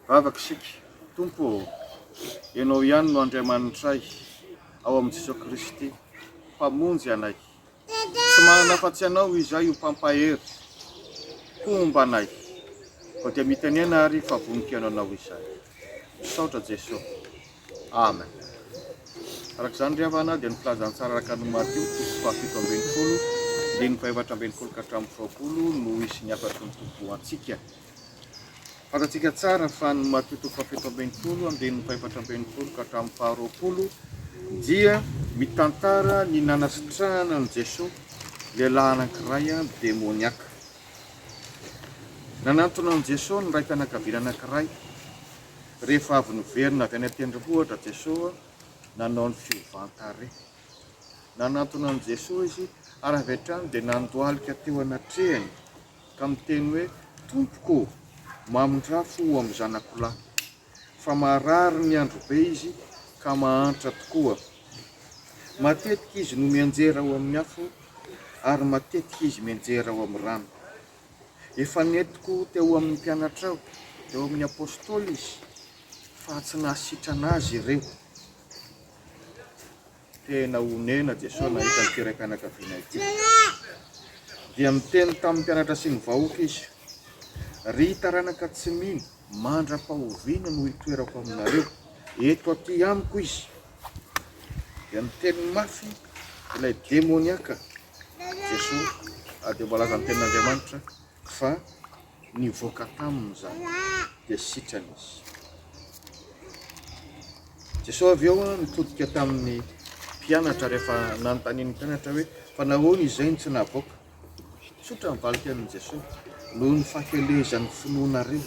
Vavaka isika, Tompo ô, Ianao ihany no Andriamanitray, ao amin'i Jesoa Kristy, Mpamonjy anay. Tsy manana afa-tsy Anao izay ho Mpampahery homba anay, koa dia mitenena ary fa vonon-kiano Anao izay. Misaotra Jeso. Amen. Araka izany ry havana dia ny filazantsara araka an'i Matio toko fahafito ambin'ny folo, andininy fahefatra ambin'ny folo ka hatramin'ny roapolo no hisy ny hafatry ny Tompo ho antsika. Fantatsika tsara fa ny matotoa fahafito ambin'ny folo, andininy fahefatra ambin'ny folo ka hatramin'ny faharoapolo dia mitantara ny nanasitrahana an'i Jesoa lehilahy anankiray demoniaka. Nanantona an'i Jesoa ny raim-pianakaviana anankiray. Rehefa avy niverina avy any an-tendrombohitra Jesoa, nanao ny fiovan-tarehy. Nanantona an'i Jesoa izy ary avy hatrany dia nandohalika teo anatrehany. ka miteny hoe, Tompoko ô, mamindrafo ho amin'ny zanako lahy, fa marary ny andro be izy ka mahantra tokoa. Matetika izy no mianjera ao amin'ny afo, ary matetika izy mianjera ao amin'ny rano. Efa nentiko teo amin'ny mpianatrao, teo amin'ny apostoly izy, fa tsy nahasitrana azy ireo. Tena onena Jesoa nahita ity raim-pianakaviana ity. Dia miteny tamin'ny mpianatra sy ny vahoaka Izy, Ry taranaka tsy mino, mandra-pahoviana no hitoerako aminareo? Eto aty amiko izy. Dia miteny mafy ilay demoniaka Jesoa, ary dia voalazan'ny Tenin'Andriamanitra fa Nivoaka taminy izany, dia sitrana izy. Jesosy avy eo nitodika tamin'ny mpianatra rehefa nanontanian'ny mpianatra hoe fa nahoana izay no tsy navoaka. Tsotra ny valintenin'i Jesosy, noho ny fahakelezan'ny finoanareo.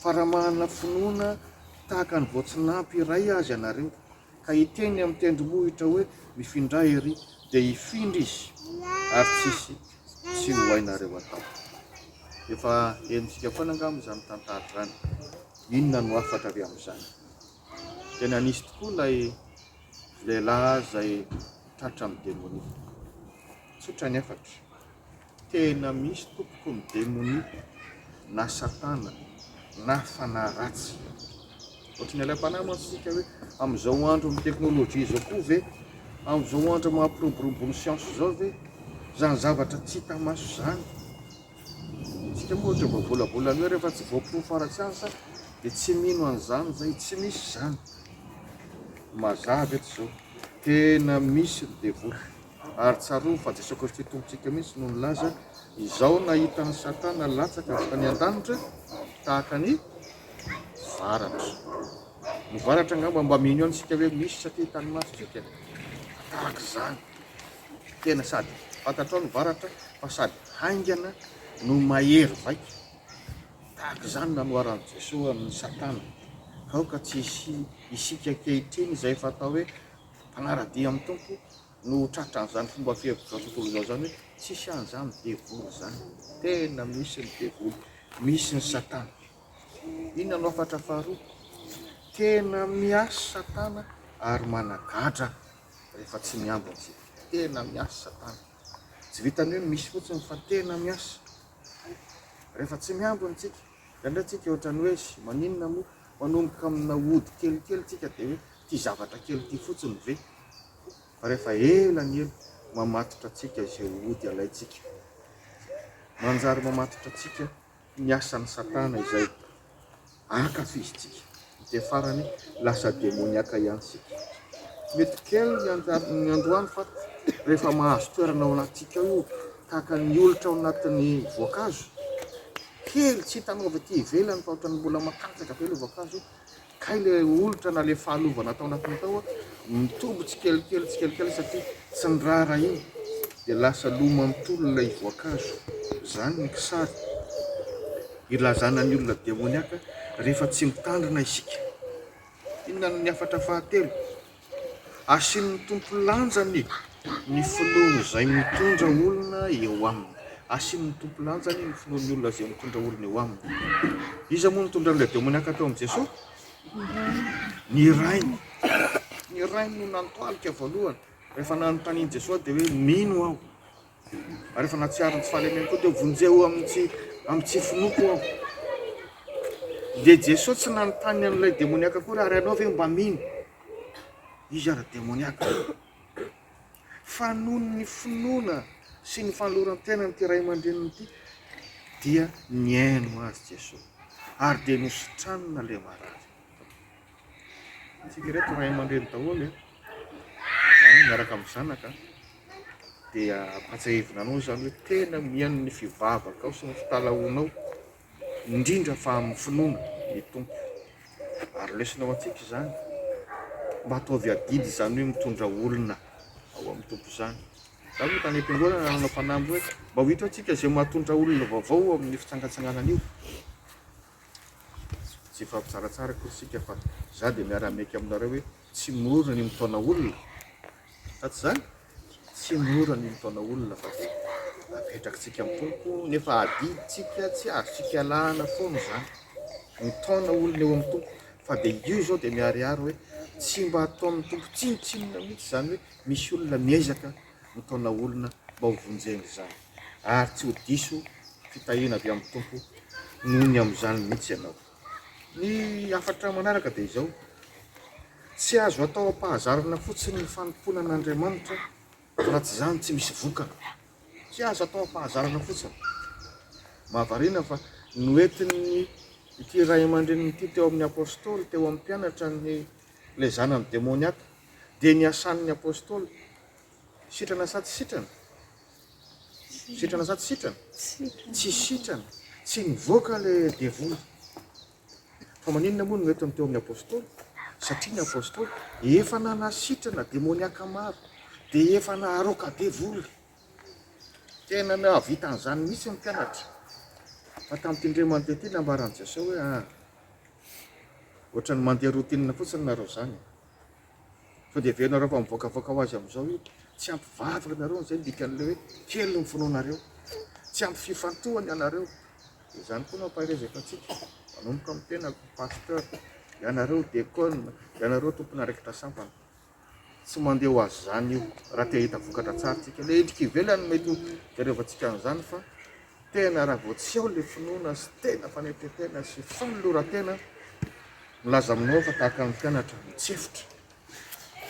Fa raha manana finoana tahaka ny voatsinanpy iray aza ianareo, ka hiteny amin'ny tendrombohitra hoe, Mifindray ery, dia hifindra izy, ary tsy hisy tsy ho hainareo atao. Efa henontsika foana angamba izany tantara izany. Inona no hafatra avy amin'izany? Tena nisy tokoa ilay lehilahy izay tratra amin'ny demonia. Tsotra ny hafatra. Tena misy tompoko ny demonia na satana na fanahy ratsy. Ohatrin'ny ilay mpanahy mantsy isika hoe amin'izao andro amin'ny teknolojia izao koa ve, amin'izao andro maha pirobirobon'ny siansa izao ve izany zavatra tsy hita maso izany? Isika moa ohatra mba volavolany hoe rehefa tsy voaporofo ara-tsiansa dia tsy mino an'izany izay, tsy misy izany. Mazava eto izao, tena misy ny devoly. Ary tsarovy fa Jesoa Kristy Tompontsika mihitsy no nilaza, Izao nahita an'i Satana latsaka avy tany an-danitra tahaka ny varatra. Ny varatra angamba mba mino ihany isika hoe misy satria hitan'ny maso izay tena tahaka izany. Tena sady fantatrao ny varatra fa sady haingana no mahery vaika. Tahaka izany nanoharan'i Jesoa an'i Satana. Aoka tsy hisy isika ankehitriny izay efa atao hoe Mpanara-dia amin'ny Tompo no ho tratra an'izany fomba fihevitra tontolo izao izany hoe tsisy an'izany devoly izany. Tena misy ny devoly, misy ny satana. Inona no hafatra faharoa? Tena miasa satana ary managadra rehefa tsy miambina isika. Tena miasa satana. Tsy vitan'ny hoe misy fotsiny fa tena miasa rehefa tsy miambina isika. Indraindray tsika ohatrany hoe eish maninona moa manomboka amina ody kelikely tsika dia hoe ity zavatra kely ity fotsiny ve? Fa rehefa ela ny ela mamatotra antsika izay ody alaintsika. Manjary mamatotra antsika ny asan'i satana izay ankafizintsika. Dia farany lasa demoniaka ihany isika. Mety kely ny androany fa rehefa mahazo toerana ao anatintsika ao io, tahaka ny olitra ao anatin'ny voankazo, kely tsy hitanao avy aty ivelany fa ohatran'ny mbola matanjaka be ilay voankazo io, kay ilay olitra na ilay fahalovana tao anatiny tao mitombo tsikelikely tsikelikely satria tsy niraharaha iny dia lasa lo manontolo ilay voankazo. Izany ny kisary. Ilazana ny olona demoniaka rehefa tsy mitandrina isika. Inona no ny hafatra fahatelo? Asian'ny Tompo lanjany ny finoan'izay mitondra olona eo aminy. Asian'ny Tompo lanjany ny finoan'ny olona izay mitondra olona eo aminy. Iza moa nitondra an'ilay demoniaka teo amin'i Jesoa? Ny rainy. Ny rainy no nantoalika voalohany. Rehefa nanontanian'i Jesoa dia hoe mino aho. ary rehefa nahatsiaro ny tsy fahalemeko koa dia vonjeo amin'ny tsy amin'ny tsy finoako aho. Dia Jesoa tsy nanontany an'ilay demoniaka akory ary ianao ve mba mino? Izy ary demoniaka. Fa noho ny finoana sy ny fanoloran-tena an'ity ray aman-dreniny ity dia nihaino azy Jesoa ary dia nositranina ilay marary. Isika ireto ray aman-dreny daholo e, ah, miaraka amin'ny zanaka, dia ampatsiahivina anao izany hoe tena mihaino ny fivavakao sy ny fitalahoanao, indrindra fa amin'ny finoana ny Tompo. Ary lesona ho antsika izany, mba ataovy adidy izany hoe mitondra olona ao amin'ny Tompo izany. Za moa tany am-piangonana nanao fanamby hoe mba ho hita hoe tsika izay mahatondra olona vaovao amin'ny fitsangatsanganana io, Tsy efa tsaratsara akory isika fa za dia miara miaiky aminareo hoe tsy mora ny mitaona olona sa tsy zany? Tsy mora ny mitaona olona fa dia apetrakitsika amin'ny Tompo nefa adiditsika tsy azontsika ialana foana izany mitaona olona eo amin'ny Tompo fa dia io izao dia miharihary hoe tsy mba ataon'ny Tompo tsinontsinona mihitsy izany hoe misy olona miezaka no taona olona mba ho vonjena izany ary tsy ho diso fitahiana avy amin'ny Tompo noho ny amin'izany mihitsy ianao. Ny hafatra manaraka dia izao, Tsy azo atao am-pahazarana fotsiny ny fanompoana an'Andriamanitra raha tsy izany tsy misy vokany. Tsy azo atao am-pahazarana fotsiny. Mahavariana fa noentin'ny ity ray aman-drenin'ity teo amin'ny Apostoly, teo amin'ny mpianatra ny ilay zanany demoniaka. Dia ny asan'ny Apostoly, sitrana sa tsy sitrana? Sitrana sa tsy sitrana? Tsy sitrana, tsy nivoaka ilay devoly. Fa maninona moa no mety ny teo amin'ny Apostoly? Satria ny Apostoly efa nanasitrana demoniaka maro, dia efa naharoaka devoly. Tena nahavita an'izany mihitsy ny mpianatra. Fa tamin'ity indray mandeha ity, nambaran'i Jesosy hoe, Ah, ohatran'ny mandeha routine fotsiny nareo izany. Sao dia heverinareo fa mivoakavoaka ho azy amin'izao io? Tsy ampy vavaka ianareo no izay no dikan'ilay hoe kely ny finoanareo. Tsy ampy fifantohana ianareo. Dia izany koa no ampaherezako antsika, manomboka amin'ny tenako, Pasteur, ianareo Diaconne, ianareo tompon'andraikitra sampana. Tsy mandeha ho azy izany io, raha te hahita vokatra tsara tsika. Ilay endrika ivelany no mety ho iarevantsika an'izany fa Tena raha vao tsy ao ilay finoana sy tena fanetren-tena sy fanoloran-tena, milaza aminao fa tahaka ny mpianatra mitsefotra,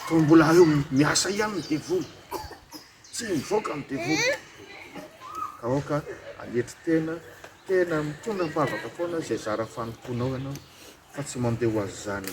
toa mbola eo miasa ihany ny devoly, tsy mivoaka ny devoly. Ka aoka hanetry tena, tena mitondra am-pavaka foana izay zara fanompoanao ianao fa tsy mandeha ho azy izany.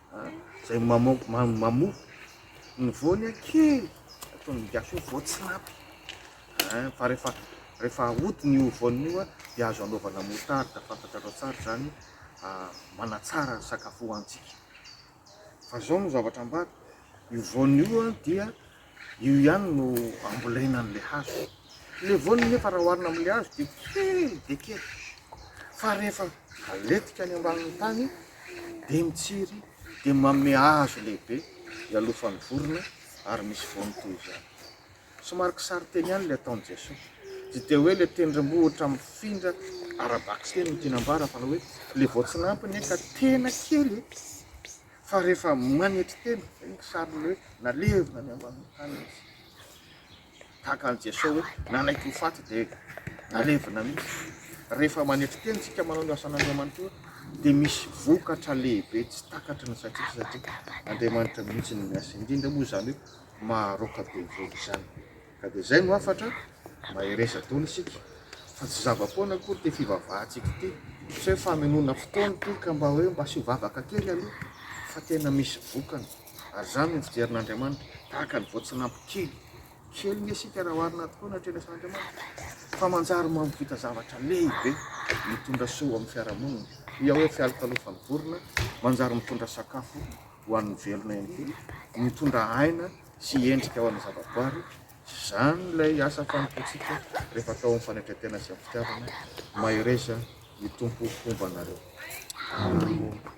Zay mamoa ny voany kely ataon'ny gasy hoe voatsinapy fa rehefa rehefa ahodiny io voany io dia azo anaovana moutarde fantatrareo tsara izany manatsara ny sakafo hohanintsika fa izao no zavatra ambara io voany io dia Io ihany no ambolena an'ilay hazo. Ilay voany nefa raha oharina amin'ilay hazo dia kely dia kely, fa rehefa aletika any ambanin'ny tany dia mitsiry dia manome hazo lehibe ialofan'ny vorona ary misy voany toy izany. Somary kisarinteny ihany ilay ataon'i Jesoa. Tsy dia hoe ilay tendrombohitra mifindra ara-bakiteny no tiana ambara fa ilay hoe ilay voatsinanto anie ka tena kely e! Fa rehefa manetry tena izay ny sariny hoe nalevina any ambanin'ny tany izy. Tahaka an'i Jesoa hoe nanaiky ho faty dia nalevina mihitsy. Rehefa manetry tena isika manao ny asan'Andriamanitra eo dia misy vokatra lehibe tsy takatry ny saintsika satria Andriamanitra mihitsy no miasa. Indrindra moa izany hoe maharoaka be vola izany. Ka dia izay no hafatra, mahereza daholo isika fa tsy zava-poana akory ity fivavahantsika ity, tsy hoe famenoana fotoana ity ka mba hoe mba asio vavaka kely aloha fa tena misy vokany ary izany no fijerin'Andriamanitra, tahaka ny voatsinampo kely, kely nge isika raha oharina tokoa ny hatrehan'ny asan'Andriamanitra fa manjary mampvita zavatra lehibe mitondra soa ho amin'ny fiarahamonina, hoy aho hoe fialokalofan'ny vorona manjary mitondra sakafo ho an'ny velona ihany koa, mitondra aina sy endrika ao amin'ny zavaboary, izany ilay asa fanompoantsika rehefa atao amin'ny fanetren-tena sy amin'ny fitiavana, mahereza ny Tompo homba anareo. Amen.